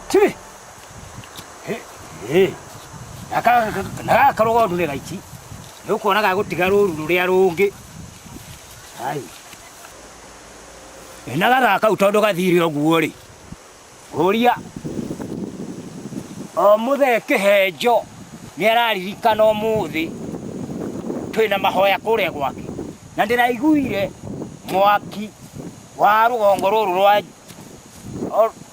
Tibi. He. He. Naka naka karogo ndure gaici. Nĩ ũkuona ga gũtiga rũru rũrĩa rũngĩ. Ai. Ĩ na gathaa kau tondũ gathire ũguo rĩ. Ũria. O mũthee kĩhenjo nĩ araririkana ũmũthĩ twĩ na mahoya kũrĩa gwake na ndĩraiguire mwaki wa rũgongo rũrũ rwa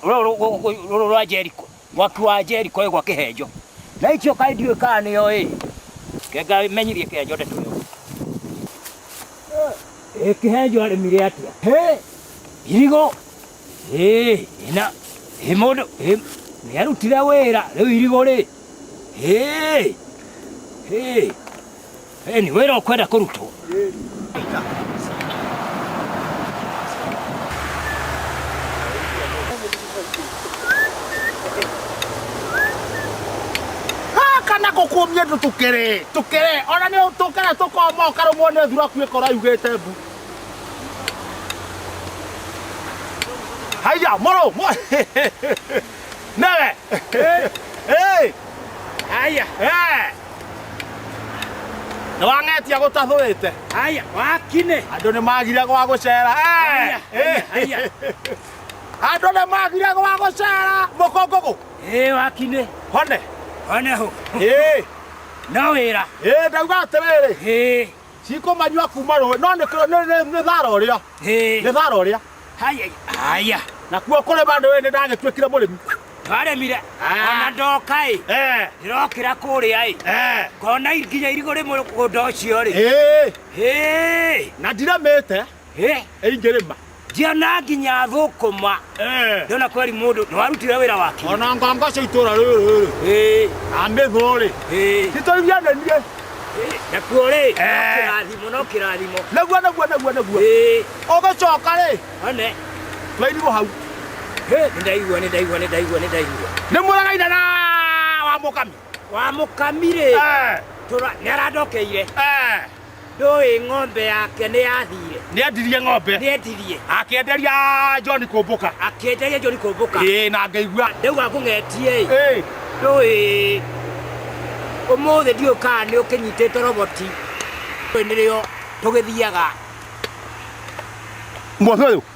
rũrũ rwa Jeriko mwaki wa Jeriko ĩ gwa kĩhenjo na icio kaĩ ndiũĩ kana nĩyo ĩ kenga menyithie kĩhenjo ndeto ĩyo ĩ kĩhenjo arĩmire atĩa hĩ irigo ĩ ĩna ĩ mũndũ ĩ nĩarutire wĩra rĩu irigo rĩ hĩ hĩ Eni, wĩra ũkwenda kũrutwo. gaka na gũkũmie ndũ tũkere tũkere ona nĩ tũkere tũkoma ũkarũmwo nĩ thura kuĩ kora yugĩte mbu haiya mũrũ Nere! Hey! Hey! Aya! Hey! Nĩ wang'etia gũtathũrĩte. Aya! Wakine! Andũ nĩ magire gwa gũcera. Hey! Aya! Aya! Andũ nĩ magire gwa gũcera. Mũkũngũgũ. Hey, wakine! Hone. Hone ho! Hey! No wĩra! Hey, ndauga atĩrĩrĩ. Hey! cikũmanyua kuma rũĩ no nĩ kũ- nĩ- nĩ- nĩ thara ũrĩa Hĩ. nĩ thara ũrĩa Haya, haya. nakuo kũrĩma nĩ nĩ ndagĩtuĩkire mũrĩmi Twaremire. Ah. Ona ndoka ĩ. Eh, Ndĩrokĩra kũrĩa ĩ. eh, Ngona nginya irigũ rĩ mũgũnda ũcio rĩ. eh. Hĩ. na ndiremĩte Eh, ĩ ngerema ndiona nginya thũkũma Eh, ndona kweri mũndũ nĩ warutire wĩra wake ona nganga cia itũra rĩrĩ Eh, amĩthũrĩ eh, nĩtũiganenie eh, nakuo rĩ no Eh. kĩrathimo no kĩrathimo naguo naguo naguo naguo Eh, ũgĩcoka rĩ one twairigwo hau Eh, nĩ ndaigua nĩ ndaigua nĩ ndaigua nĩ ndaigua nĩ mũragaina na wa mũkami wa mũkami rĩ Eh, tũra- nĩ arandokeire eh, Ndũĩ ng'ombe yake nĩ yathiire. Nĩ endirie ng'ombe. Nĩ endirie. Akĩenderia John Kũmbũka. Akĩenderia John Kũmbũka. Ĩĩ na ngaigua. Ndauga ngũng'etie ĩ. Ĩĩ. Ndũĩ ũmũthĩ ndiũĩ kana nĩ ũkĩnyitĩte roboti. Ndũĩ nĩrĩo tũgĩthiaga. Mũthĩ ũyũ.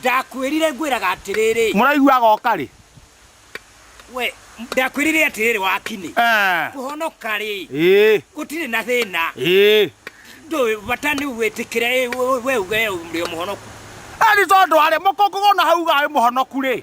Ndakwĩrire ngwĩraga atĩrĩrĩ. Mũraigua agoka rĩ? We, ndakwĩrire atĩrĩrĩ wakinĩ. Eh. Kũhonoka rĩ? Ĩĩ. Gũtirĩ na thĩna. Ĩĩ. Ndũĩ bata nĩ wĩtĩkĩre we uge ũrĩ mũhonoku. Eri tondũ arĩ mũkũngũgũ na hauga arĩ mũhonoku rĩ?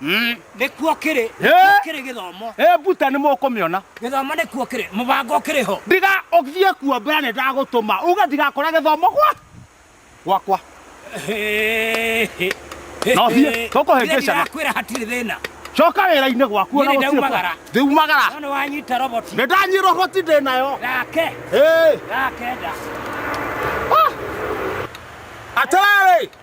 Mm. nĩkuo kĩrĩ Eh. nĩkuo kĩrĩ gĩthomo ĩ mbuta nĩ mũkũmĩona gĩthomo nĩkuo kĩrĩ mũbango kĩrĩ ho ndiga ũthiĩ kuo mbere nĩ ndagũtũma uge ndigakora gĩthomo gwa gwakwa No thiĩ, tũkũhĩngĩcana. kwĩra hatirĩ thĩna coka wĩra-inĩ gwaku Niĩ ona gũtirĩ nĩndaumagara. kwa- ndiumagara no nĩ wanyita roboti nĩ ndanyirwo hoti ndĩ nayo gake Ĩ, gake nda atĩrĩrĩ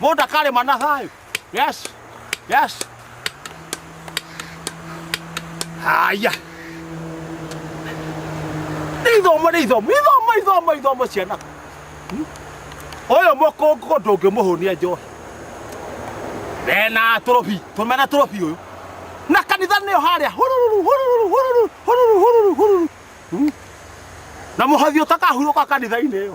Mũndũ akarĩma na thayũ. Yes. Yes. Haya. Nĩ ithomo nĩ ithomo. Ithomo ithomo ithomo ciana. Hmm? Ũyũ mũkũngũ ndũngĩmũhũnia njohi. Mena tũrũbi, tũmena tũrũbi ũyũ. Na kanitha nĩyo harĩa. Hururu hururu hururu hururu hururu hururu. Hmm? Na mũhothi ũtakahurũka kanitha-inĩ ĩyo.